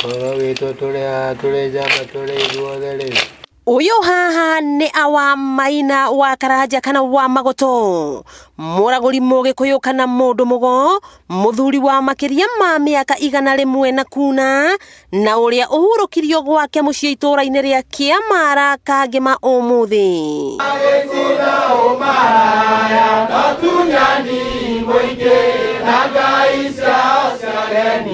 Ũhoro witũ tũrĩ haha tũrĩ njamba tũrĩ ithuothe rĩ. Ũyũ haha nĩ awa maina wa karanja kana wa magũtũ mũragũri mũgĩkũyũ kana mũndũ mũgo mũthuri wa makĩria ma mĩaka igana rĩmwe na kuna na ũrĩa ũhurũkirio gwake mũciĩ itũũra-inĩ rĩa Kĩamara kangĩma ũmũthĩ agĩcina ũmaraya no tunyani mũingĩ na ngai ciao cia reni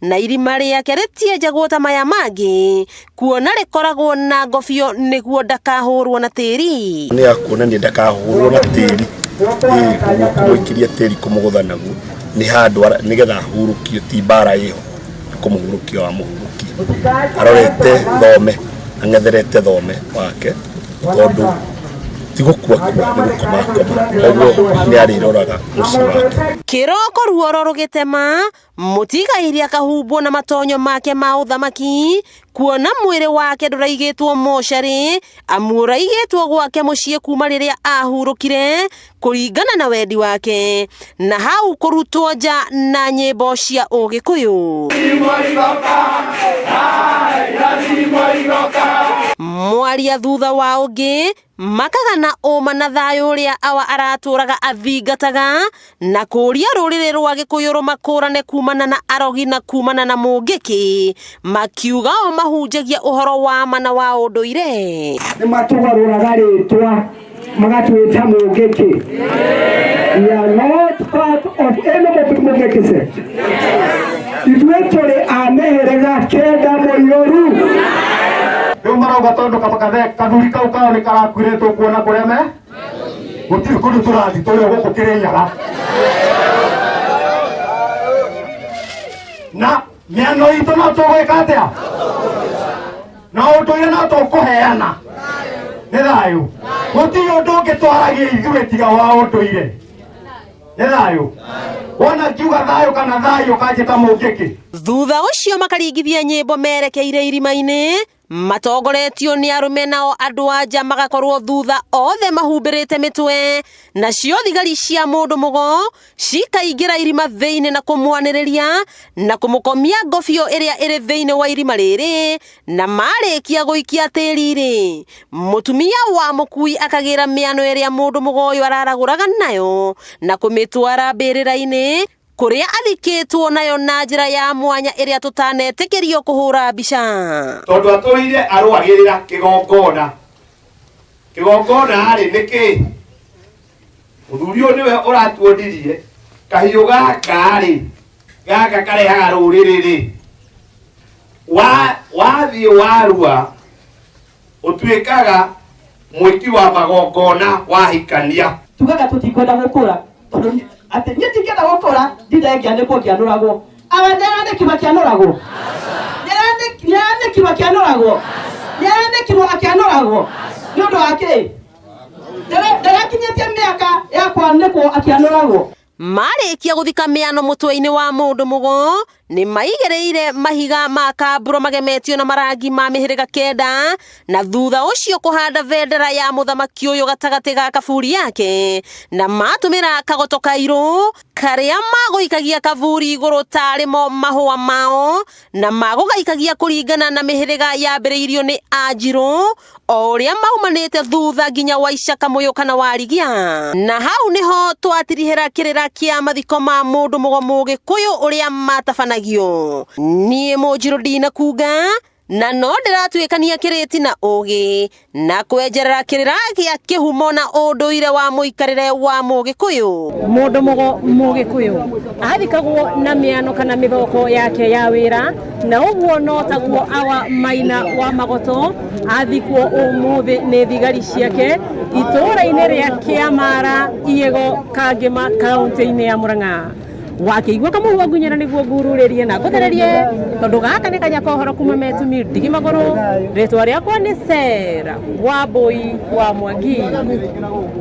na irima rĩake rĩtienjagwo ta maya mangĩ kuona rĩkoragwo na ngobio nĩguo ndakahũrwo na tĩri nä ya kuonania ndakahårwo na tĩri ĩĩ koguo kũmũikiria tĩri kũmũgũtha naguo nĩ handũ ara- nĩ getha ahurũkio ti mbara ĩho nĩ kũmũhurũkia wa mũhurũkia arorete thome ang'etherete thome wake tondũ ti gũkua kua nĩ gũkomakoma koguo nĩ arĩroraga mũciĩ wake kĩroko ruoro rũgĩtema mũtigaĩria kahumbwo na matonyo make ma ũthamaki kuona mwĩrĩ wake ndũraigĩtwo mocarĩ amu ũraigĩtwo gwake mũciĩ kuma rĩrĩa ahurũkire kũringana na wendi wake na hau kũrutwo nja na nyĩmbo cia ũgĩkũyũ mwaria thutha wa ũngĩ Makaga na ũma na thayũ ũrĩa awa aratũraga athingataga, na kũũria rũrĩrĩ rwa Gĩkũyũ rũmakũrane kumana na arogi na kumana na mũngĩki, makiuga o mahunjagia ũhoro wa ma na wa ũndũire. Nĩ matũgarũraga rĩtwa magatwĩta mũngĩki. We are not part of any mũngĩki sect. ithuĩ tũrĩ a mĩhĩrĩga kenda mũiyũru rĩu marauga tondũ kaba- kathe- kathuri kau kao nĩ karakuĩrĩtwo kuona kũrĩa me gũtirĩ kũndũ tũrathi tũrĩ o gũkũ kĩrĩ nyaga na mĩano itũ no tũgwĩka atĩa na ũndũire no tũkũheana nĩ thayũ gũtirĩ ũndũ ũngĩtwaragia ithuĩ tiga wa ũndũire nĩ thayũ wona ngiuga thayũ kana thayũ kanjĩta mũngĩkĩ thutha ũcio makaringithia nyĩmbo merekeire irima-inĩ matongoretio nĩ arũme nao andũ anja magakorwo thutha othe mahumbĩrĩte mĩtwe nacio thigari cia mũndũ mũgo cikaingĩra irima thĩinĩ na kũmwanĩrĩria na kũmũkomia ngobio ĩrĩa ĩrĩ thĩinĩ wa irima rĩrĩ Na maarĩkia gũikia tĩri-rĩ, mũtumia wa mũkui akagĩra mĩano ĩrĩa mũndũ mũgoyo araragũraga nayo na kũmĩtwara mbĩrĩra-inĩ kũrĩa athikĩtwo nayo na njĩra ya mwanya ĩrĩa tũtanetĩkĩrio kũhũra mbica. Tondũ atũire arũagĩrĩra kĩgongona. Kĩgongona-rĩ, nĩ kĩĩ? Mũthuri ũyũ nĩwe ũratuonirie kahiũ gaka rĩ gaka karehaga rũrĩrĩ rĩ Wa- wathiĩ warua ũtuĩkaga mwĩki wa magongona wahikania tugaga tũtikwenda gũkũra tondũ ni- atĩ niĩ ndingĩenda gũkũra ndindengĩa nĩkuo ngĩanũragwo awa nĩaranĩkirwo akĩanũragwo Nĩaranĩk- nĩaranĩkirwo akĩanũragwo nĩaranĩkirwo akĩanũragwo nĩ ũndũ wa kĩĩ Ndare- ndarakinyĩtie mĩaka ya kwanĩkwo akĩanũragwo marĩkia gũthika mĩano mũtwe-inĩ wa mũndũ mũgo nĩ maigĩrĩire mahiga ma kamburo magemetio na marangi ma mĩhĩrĩga kenda na thutha ũcio kũhanda bendera ya mũthamaki ũyũ gatagatĩ ga kaburi yake na matũmĩra kagoto kairũ karĩa magũikagia kaburi igũrũ tarĩmo mahũa mao na magũgaikagia kũringana na mĩhĩrĩga yambĩrĩirio nĩ anjirũ o ũrĩa maumanĩte thutha nginya waicaka mũyũ kana warigia na hau nĩho twatirihĩra kĩrĩra kĩa mathiko ma mũndũ mũgo mũgĩkũyũ ũrĩa matabanagio niĩ mũnjirũ ndinakunga na no ndĩratuĩkania kĩrĩti na ũgĩ na kwenjerera kĩrĩra gĩa kĩhumo na ũndũire wa mũikarĩre wa mũgĩkũyũ mũndũ mũgo mũgĩkũyũ athikagwo na mĩano kana mĩthoko yake ya wĩra na ũguo no taguo awa maina wa magoto athikwo ũmũthĩ nĩ thigari ciake itũũra-inĩ rĩa kĩamara igego kangĩma kaũntĩ-inĩ ya mũrang'a wakĩigua kamũhu wangunyana nĩguo ngururĩrie na ngũthererie tondũ gaka nĩ kanya kohoro kuma metumi ndigi magũrũ rĩtwa rĩakwa nĩ sera wa mbũi wa mwangi